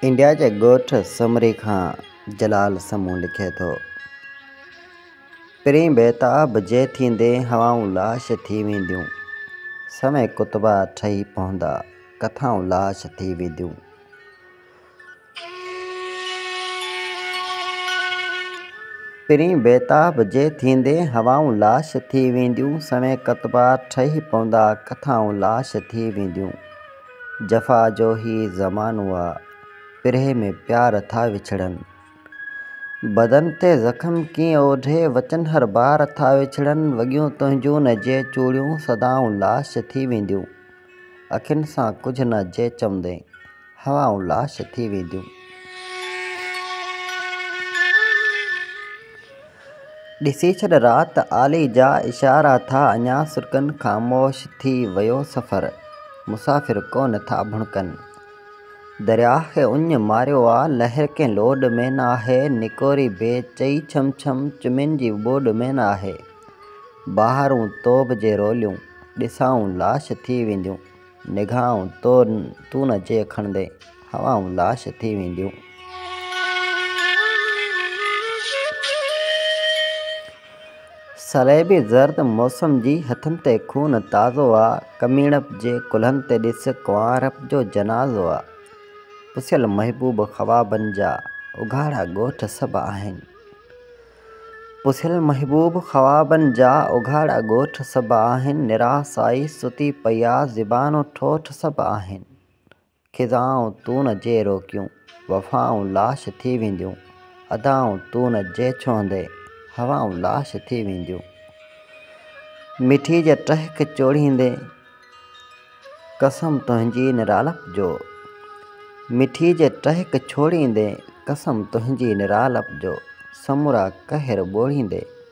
India جي ڳوٺ سومري کان جلال سمون لکي ٿو. پرين بيتاب جي ٿيندي هوائون لاش ٿي وينديون. سوين ڪتبا ٺهي پوندا، ڪٿائون لاش ٿي وينديون. پرين بيتاب جي ٿيندي هوائون لاش ٿي وينديون سوين ڪتبا ٺهي پوندا ڪٿائون لاش ٿي وينديون جفا جو هي زمانو آ پرهي ۾ پيار ٿا وڇڙن بدن تي زخم ڪيئن اوڍي وچن هر بار ٿا وڇڙن وڳيون تنهنجون نه جي چوڙيون سدائون لاش ٿي وينديون اکين سان ڪجهه نه جي چوندين هوائون لاش ٿي وينديون. ڏسي ڇڏ رات آلي جا اشارا ٿا اڃا سرڪن خاموش ٿي ويو سفر مسافر ڪونه ٿا ڀڻڪن درياهه کي اڃ ماريو آ لهر ڪنهن لوڏ ۾ ناهي نڪوري بي چئي ڇم ڇم چمين جي ٻوڏ ۾ ناهي بهارون توب جي روليون ڏسائون لاش ٿي وينديون. نگاهون تون نه جي کڻندين، هوائون لاش ٿي وينديون. سريبي زرد موسم جي هٿن تي خون تازو آ، ڪميڻپ جي ڪلهن تي ڏس ڪنوارپ جو جنازو آ. پسيل محبوب خوابن جا، اگهاڙا ڳوٺ سڀ آهن. پسيل محبوب خوابن جا اگهاڙا ڳوٺ سڀ آهن نرا سائي ستي پيا زبان و ٺوٺ سڀ آهن خزائون تون نه جي روڪيون وفائون لاش ٿي وينديون ادائون تون نه جي ڇهندين هوائون لاش ٿي وينديون مٺي جا ٽهڪ چوڙهيندين قسم تنهنجي نرالپ جو. مٺي جي ٽهڪ ڇوڙيندي قسم تنهنجي نرالپ جو سمورا قهر ٻوڙيندي.